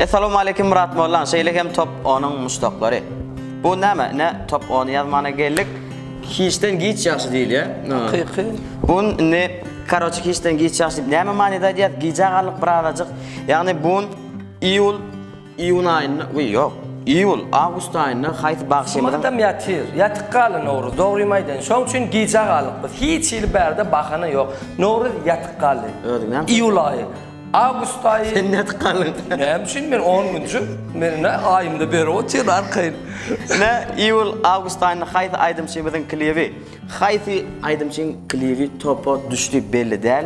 Assalamu alaykum Murat Mollan. Şeýle hem top 10-yň muşdaklary. Bu näme? Ne top 10-y ýazmana geldik. Hiçden giç ýagşy diýilýär. Hakyky. Bu ne karoçi hiçden giç ýagşy diýip näme manyda aýdýar? Gijä galyp birazajyk. Ýagny bu iýul Iýun aýynda, we ýok, iýul, awgust aýynda haýsy bagşymyzyň. Sumakdam ýatyr, ýatyk galy Nowruz, dogrymy aýdaýyn, şoň üçin gijä galyk biz, hiç hili bärde bahana ýok, Nowruz ýatyk galdy. Özüň näme? Iýul aýy, awgust aýy. Sen nädip galdyň? Näme üçin men on günje, meniň nä aýymda beri otyr arkaýyn. Ine, iýul, awgust aýynda haýsy aýdymçymyzyň klibi, haýsy. Aýdymçyň klibi topa düşdi belli däl.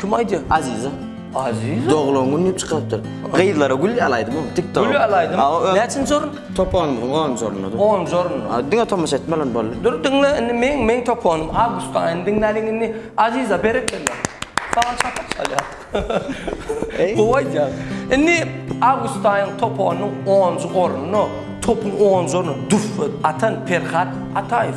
Kim aýdýa? Aziza. Aziza. Doglan gün diýip çykarypdyr. Gyzlara gül alaýdym o TikTok. Gül alaýdym. Näçinji orun? Toponymyzyň onunjy ornudy. Onunjy orun. A diňe tomaşa etmeli ony boldy. Dur diňle indi meň meň toponym awgust aýyny diňläliň indi Aziza berekella. Saňa çapak çalýar. Gowy aýdýaň. Indi awgust aýyň toponynyň onunjy ornuny topuň onunjy ornuny duf atan Perhat Ataýew.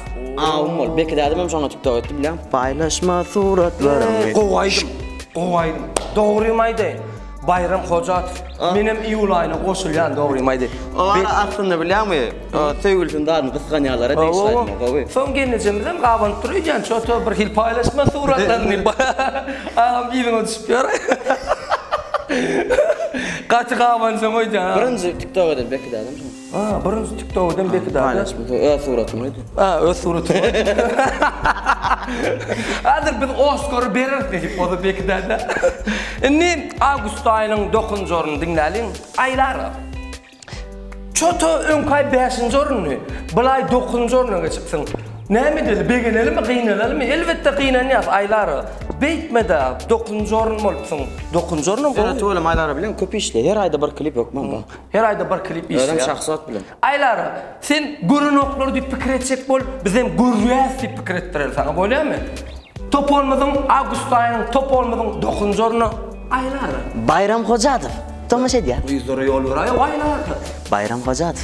Awum bol. Beki dädem hem şoňa tiktok etdi bileň. Paýlaşma suratlarymy. Gowy aýdym. Gowy aýdym. Dogrymy aýdaýyn. Baýram Hojatow. Men hem iýul aýyna goşulýan dogrymy aýdaýyn. Olar aslynda bilýäňmi, söýgülisini baryny gysganýarlara degişli aýdymlar gowy. Soň gelnejemiz hem gabanyp dur öýdýän çoto bir hil paýlaşma suratlaryny. Agam yzyňa düşüp ýör. Gaty gabanjaň öýdýän. Birinji tiktok eden Beki dädem şoňa. A, birinji tiktok eden beki dada. Paýlaş bu öz suratymy edi. A, öz suratymy. Hazır biz Oskary bereris diýip oda beki dada. Indi awgust aýynyň dokuzynjy orny diňläliň. Aýlara. Çota öňkaý bäşinji orundy. Bulaý dokuzynjy orna geçipsiň. Näme edeli begenelimi gynanalymy elbetde gynanýas Aýlara. Beýtmeda dokuzynjy orun bolupsyň. Dokuzynjy ornam gowy. Ýöne tüweleme Aýlara bilen köp işle. Her aýda bir klip hökman bar. Her aýda bir klip işleýär. Özem şahsy ot bilen. Aýlara, sen gören oklary diýip pikir etjek bol, bizem görýäs diýip pikir etdireli saňa, bolýamy? Topolymyzyň awgust aýynyň topolymyzyň dokuzynjy orny Aýlara. Baýram Hojadow tomaşa edýär. Gyzlara ýol beräý, Aýlara. Baýram Hojadow.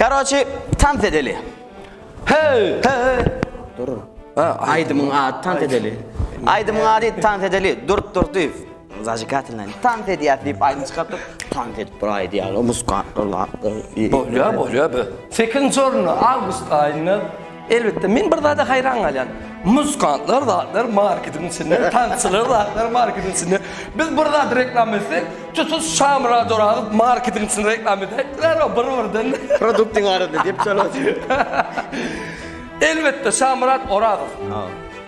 Karoçi tans edeli. Hey, hey. Dur. Aýdymyň ady tans edeli. Aýdymyň ady tans edeli. Durup dur diýip. Zajigatelna. Tans edýär diýip aýdym çykardyk. Tans edip biraý diýýär. Muskatlylar. Bolýar, bolýar be. Sekinji orunda awgust aýynda elbetde men bir zada haýran galýan. Muskantlar zatlar marketiň içinde, tansçylar zatlar marketiň içinde. Biz bir zat reklam etsek, tutuş şamra doragyp marketiň içinde reklam edýärler, bir birden. Produktyň arasynda diýip çalasy. Elbetde Şamyrat Orazow.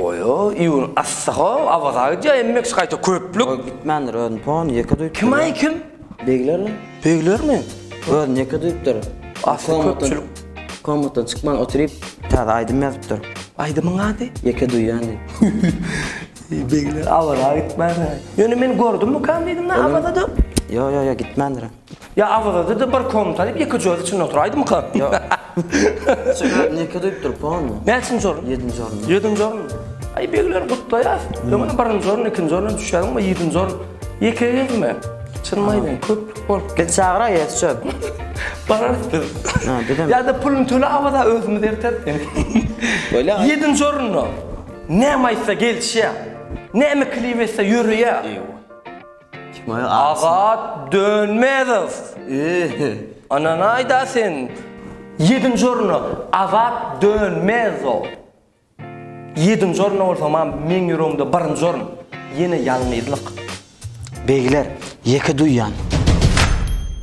Oýo iun assaho awaza gidýär emmex gaýta köplük. Goý gitmändir özün pon ýeke duýupdyr. Kim aý kim? Beglermi? Beglermi? Özün ýeke duýupdyr. Asly köpçülik. Komatdan çykman oturyp täze aýdym ýazypdyr. Aýdymyň ady? Ýeke duýýan diýip. Begler awaza gitmändir aý. Ýöne men gördüm mukam diýdiňä awazada. Ýo ýo ýo gitmändir. Ýa awazada-da bir kom talyp ýeke joz içinde otur aýdymka. Ýok. Çygar neke duýup dur pomy. Näçinji orun? Ýedinji orun. Ýedinji orun. Aý begler gutlaýas. Öňem birinji orun, ikinji orun düşýäň we ýedinji orun. Ýeke gezme. Çynymy aýdaýyn köplük bolup. Biz çagyraý ýa söp. Bararys biz. Ha bizem. Ýa-da puluny töle awaza özümiz erteris seni. Bolýa. Ýedinji orunda näme aýtsa gelişýä. Näme klip etse ýöreýä. Agat Dönmezow! Ananaýda sen! Ýedinji orna Agat Dönmezow! Ýedinji orna bolsa mam meň ýüregimde birinji orun! Ýene ýalňyzlyk! Begler, ýeke duýýan!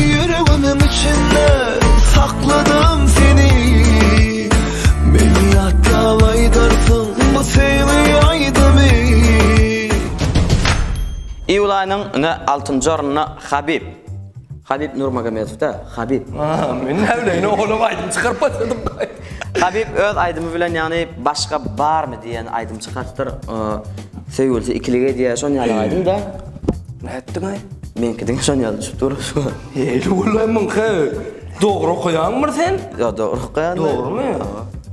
Ýüregimiň içinde sakladym seni Meni ýatlap aýdarsyň bu söýgi aýdymy Iýulaýynyň nji altynjy ornuna Habib Habib Nurmagomedowda Habib. Aaa men näbileýin oglum aýdym çykaryp başladyň. Habib öz aýdymy bilen ýagny başga barmy diýen aýdym çykartdyr. Söýgülisi ikilik edýär şon ýaly aýdym da. Nätdiň aý? Meňki diňe şon ýaly düşüp dur. Eý ulan meňki. Dogry okaýaňmyr sen? Ýa dogry okaýan. Dogrymy?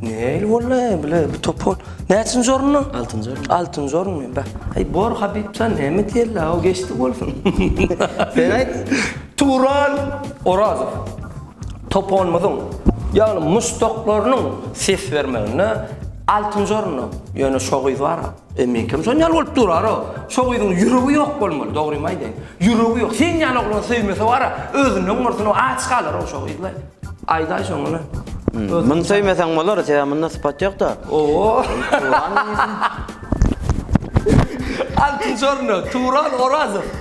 Neýli boldy bile bu topar. Näçinji orunda? Altynjy orunda. Altynjy orunda bä. Aý bor Habib sen näme diýeli o geçdi bolsun. Sen aýt. Turan Orazow. Toponymyzyň, ýagny muşdaklarynyň ses bermeginde altynjy orunda, ýöne şo gyz bar-a. E, meňkem şon ýaly bolup durar-a. Şo gyzyň ýüregi ýok bolmaly, dogrymy aýdaýyn. Ýüregi ýok. Sen ýaly oglany söýmese bar-a, özünden gursuna aç galar-a şo gyz-la. Aýdaý şoňa-la. Muny söýmeseň bolar, sebäbi munda sypat ýok-da. Owo! Altynjy orunda, Turan Orazow.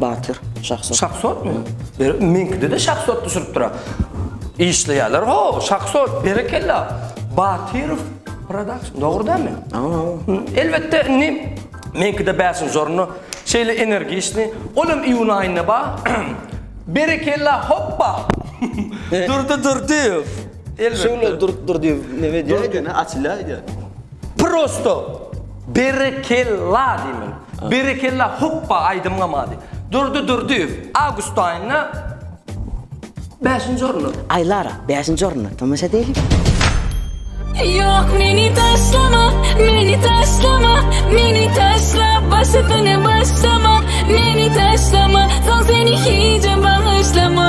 Batyr, şahsot. Şahsotmy? Berek, meňkide-de şahsot düşüripdir-ä. Işleýärler, haw, şahsot, berekella. Batyrow production, dogry dälmi? Hawa, hawa. Elbetde, indi meňkide bäşinji orunda şeýle energiçni, ol hem iýun aýynda bar. Berekella, hoppa! Durdy Durdyýew. Elbetde. Şöwle Durdy Durdyýew neme diýýär ekeni, açylýar diýýär. Prosto berekella diýmeli. Berekella hoppa aýdym gamady. Durdy Durdyýew awgust aýynda bäşinji orunda. Aýlara bäşinji orunda tomaşa edeýliň. Yok meni taşlama, meni taşlama, meni taşla başını başlama, meni taşlama, son seni hiç bağışlama.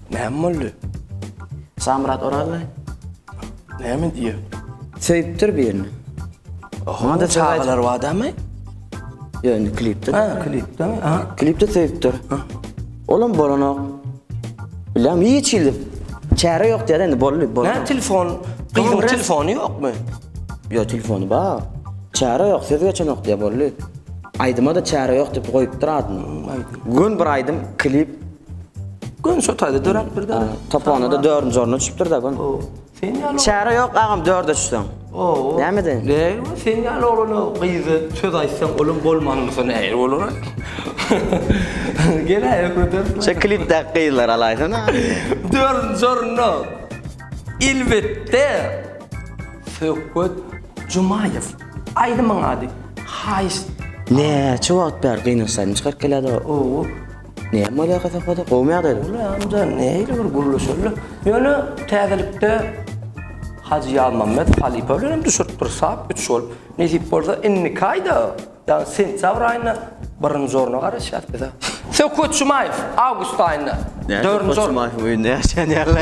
Näme boldy? Şamyrat Orazow. Näme diýýär? Söýüpdir birini. Onda çagalar bar dämi? Ýa indi klipde. Ha, klipde. Ha, klipde söýüpdir. Olam bolanok. Biläm hiç ýyl. Çäre ýok diýär indi boldy. Nä telefon? Gyzyň telefony ýokmy? Ýa telefony bar. Çäre ýok, söz geçenok diýär boldy. Aýdyma da çäre ýok diýip goýupdyr adyny. Gün bir aýdym klip Gün şu taýda döräpdir-de. Topogona-da dördünji orna düşüpdir-de gün. O, sen ýaly... Çäre ýok, agam, dörde düşseň. O, o. Näme deýin? Deý, sen ýaly oglana gyza söz aýtsaň, olam bolman bolsa nähili bolar? Gel-ä, ökrederiz. Şo klipdäki gyzlary alaýsana. Dördünji orunda, elbetde, Söhbet Jumaýew. Aýdymyň ady, Haýyş. Näçe wagt bäri gynaşsaýdym, çykaryp gelýärdi-ow. O. Näme bolýar hasapada? Gowumy ýagdaýlar? Uly amja neýli bir gürleşerler. Ýöne täzelikde Hajy Ýazmammet halypa bilen hem düşüripdir sap üç gol. Nesip bolsa indiki aýda, ýagny sentýabr aýynda birinji orna garaşýas biz-ä. Söhbet Jumaýew awgust aýynda dördünji orun. Näme Söhbet Jumaýewiň öýünde ýaşaýan ýaly.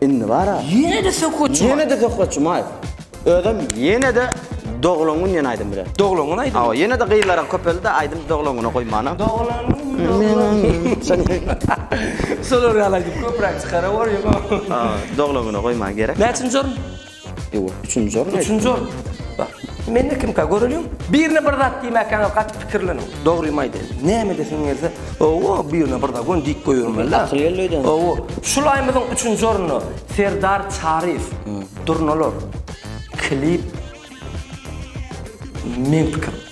Indi bar-a. Ýene-de Söhbet Jumaýew. Ýene-de Söhbet Jumaýew. Özem ýene-de doglan gün diýen aýdym bilen. Doglan gün aýdymy. Hawa, ýene-de gyzlaram köpeldi-de, aýdymy doglan güne goýman-a. Doglan gün, doglan gün. Şolar ýaly aýdym köpräk çykarawer ýöne. Hawa, doglan güne goýman gerek. Näçinji orun? Ýok, üçünji orun. Üçünji orun. Bar. Mende kimka göreliň. Birine bir zat diýmäkäňiz gaty pikirleniň. Dogrymy aýdaýyn. Näme edesiň gelse, owo, birine bir zat göni diýip goýbermeli-dä. Akyl geldi öýdeniň. Owo. Şul aýymyzyň üçünji ornuny Serdar Çaryýew, Durnalar, klip, Meň pikirim.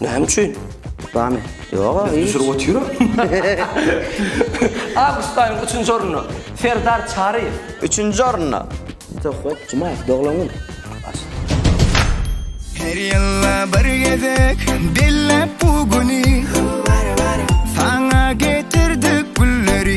Näme üçin? Bamy? Ýog-a. Biz düşürip otyryk. Awgustaýyň üçünji ornuna Serdar Çaryýew. Üçünji ornuna. Söhbet Jumaýew doglan gün. Her ýylda bir gezek belläp bu güni. Saňa getirdik gülleri.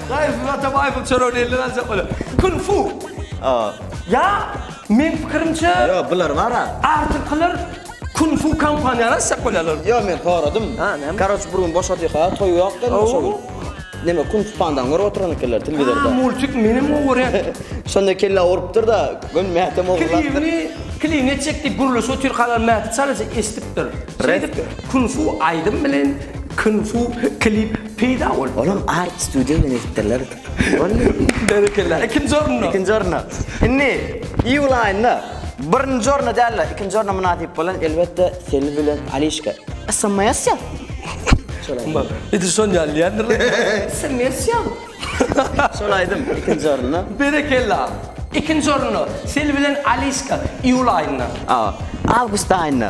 Gaýysyz ata baýsyz çöre diýildi gançak bolýa. Kung fu. Aa. Ýa meň pikirimçe. Ýo bular bara. Artyklar kung fu kompaniýany açjak bolýarlar. Ýo men soradym. Ha näme. Karoç bir gün boşadyka toý ýok dedim şo gün. Näme kung fu pandan görüp oturan ekenler telewizorda. Ha multik menem gowy görýän. Şonda kelle urupdyrda göni mähtem ogurlapdyr. Klibini klibini etjek diýip gürleşip otyr kalan mähti çalaja eşdipdir. Şeýdip kung fu aýdym bilen kung fu klip. Peýda bol. Olam Art Studio bilen edipdirler. Boldy. Berekella. Ikinji orunda. Ikinji orunda. Indi iý bolaýynda. Birinji orunda däl-de, ikinji orunda mynasyp bolan elbetde Selbi bilen Alişka. Smsja. Şol aýdym. Bax, edil şon ýaly diýendirler. Smsja. Şol aýdym ikinji orunda. Berekella. Ikinji orunda Selbi bilen Alişka iýul aýynda. Awgust aýynda.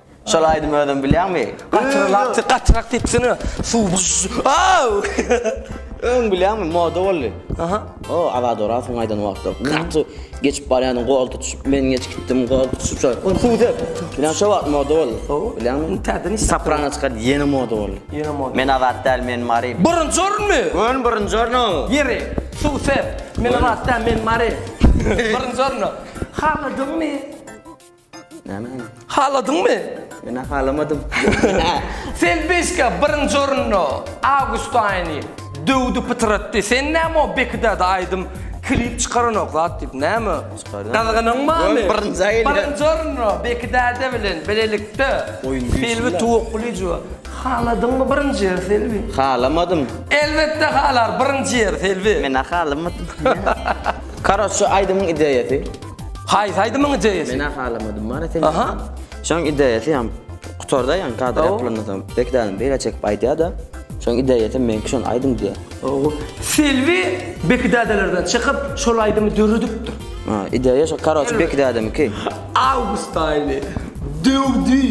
Şol aýdymy özüň bilýäňmi? Gatyrak, gatyrak diýipsene. Suw. Öň bilýäňmi, moda boldy. Aha. O, Azat Orazowyň aýdan wagtlar. Gaty geçip barýardyň, gol tutuşyp, men geç gitdim, gol tutuşyp şo. Suw dep. Bilýän şo wagt moda boldy. Bilýäňmi? Täze nişan. Soprano çykar, ýene moda boldy. Ýene moda. Men Azat däl, men Mary. Birinji orunmy? Ön birinji ornu. Ýeri. Suw sep. Men Azat däl, men Mary. Birinji ornu. Haladyňmy? Näme hany? Haladyňmy? Men halamadym. Sen beşka birinji orunda awgust aýyny döwdi pytratdy. Sen näme o Bekidada aýdym klip çykaranok zat diýip näme? Çykarýan. Gazganyň barmy? Birinji aýyny. Birinji orunda Bekidada bilen bilelikde Oýun güýçli Selbi lan. tuwukly juwa. Haladyňmy birinji ýer Selbi? Halamadym. Elbetde halar birinji ýer Selbi. Men halamadym. Karoç şu aýdymyň ideýasy. Haýsy aýdymyň ideýasy? Men ahalamadym mara sen. Aha. Şoň ideýasy hem gutarda ýan kadr ýapylanda soň bek dälim beýle çekip aýdýada. Şoň ideýasy meňki şon aýdym diýä. Ow. Selbi bek dädelerden çykyp şol aýdymy döredipdir. Ha, ideýa şo karoç bek dädemiki. Awgust aýyny döwdi.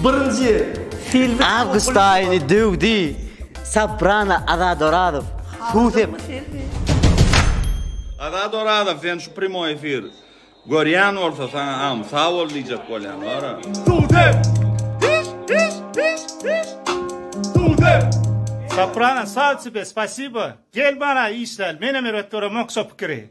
Birinji ýer. Selbi. Awgust aýyny döwdi. Soprano Azat Orazow. Suw sep. Azat Orazow sen Primoý efir görýän bolsa saňa am sag bol diýjek bolýan wara. Dude! Diş diş diş diş. Dude! Soprano sag tibe spasibo gel bana işlel menem erbet göremok şo pikiri.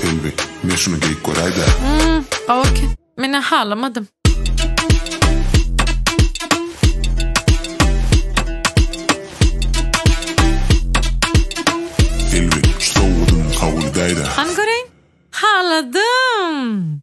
Selbi men şuny geýip göräýdä. Hmm gowy eken. Menä halamadym. Selbi şu sowgadymy kabul edäýdä. Hany göreýin. Haladym.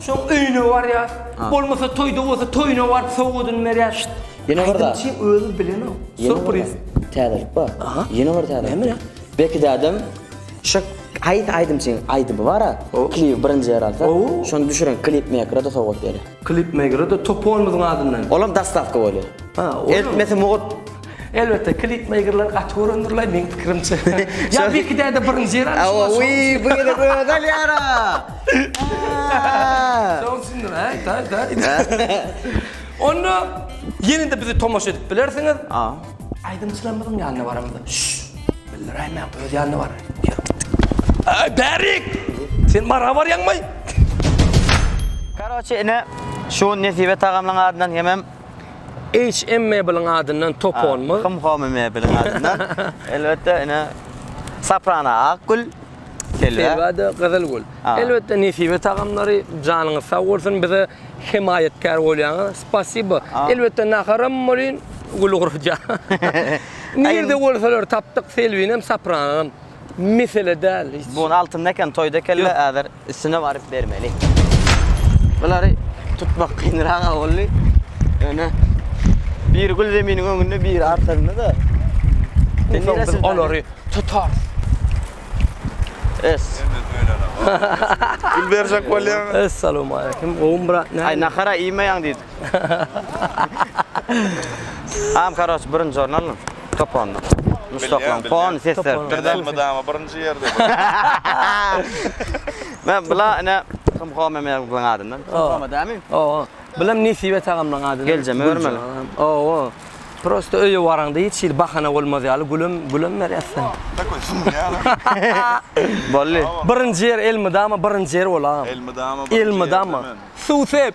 Soň öýüne barýas. Bolmasa toýda bolsa toýuna baryp sowgadyny berýas. Şşt. Ýene bir zat. Aýdymçy özi bilenok. Surpriz. Täzelik bar. Ýene bir täzelik. Näme? Beki dädem şu haýsy aýdymçyň aýdymy bara klibi birinji ýer alsa, şony düşüren klip mekere-de sowgat berýär. Klip mekere-de topunymyzyň adyndan. Olam dostawka bolýar. Eltmesi mugt. Elbetde klip meýgirler gaty göründirlay meň pikirimçe. Ýa bir iki däde birinji ýer alyp şoňa. Oýy bu gezek özi alýara. Şoň üçindir aý taý taý. Onda ýene-de bizi tomaşa edip bilersiňiz. Aýdymçylarymyzyň ýanyna baramyzda. Bildiräýmäň öz ýanyna bar. Aý bärik. Sen mara barýaňmy? Karoçe ine şu Nesibe tagamlaň adyndan hemem HM Mebeliň adyndan Toponmy? Hum Home Mebeliň adyndan. Elbetde ine Soprano ak gül, Selwa. Selwa da gyzyl gül. Elbetde Nesibe tagamlary janyňyz sag bolsun bize hemaýatkär bolýaňyz. Spasibo. Elbetde naharam bolýyn, gül gurja. Nirde bolsalar tapdyk Selwinem Sopranam. Mesele däl hiç. Bu gün altynda eken toýda ekella häzir. Üstüne baryp bermeli. Bulary tutmak kynrak boldy. Öne bir gül zeminiň öňünde, bir artynda da. Biz olary tutar. Es. Gül berjek bolýan. Assalamu alaykum. Gowum brat. Ay nakara iýmeýän diýdi. Am karoç birinji orun alyn toponda. Muşdaklaň pony ses beripdir da. Elmydama birinji ýerde. Men bula ine Hymho Memeroglyn adyndan. Hymho dämi? Owo. Bulam Nesibe tagamlaň adyndan. Geljem örmeli. Owo. Prosta öýe baraňda hiç hili bahana bolmaz ýaly gülem gülem berýär sen. Takoý sumýaly. Bolly. Birinji ýer elmydama birinji ýer bolam. Elmydama birinji ýer. Elmydama. Suw sep.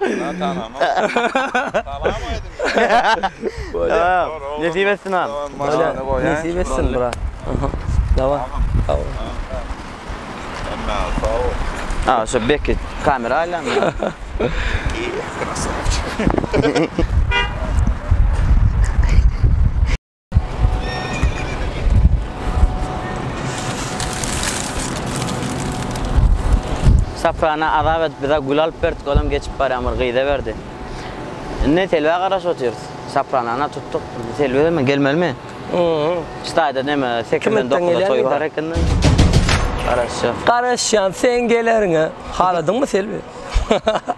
Salam aýdyň. Nesip etsin agam. Nesip etsin brat. Dawa. Aga şu beki kamera aýlan. Saprana azap edip bize gül alyp berdik, olam geçip barýan bir gyza berdi. Indi Selbä garaşyp otyrys. Sapranana tutduk. Selbe mi gelmelimi? Hı. Staýda näme 8-den 9-a toý bar ekende. Garaşýan. Garaşýan, sen geleriňe. Haladyňmy Selbi?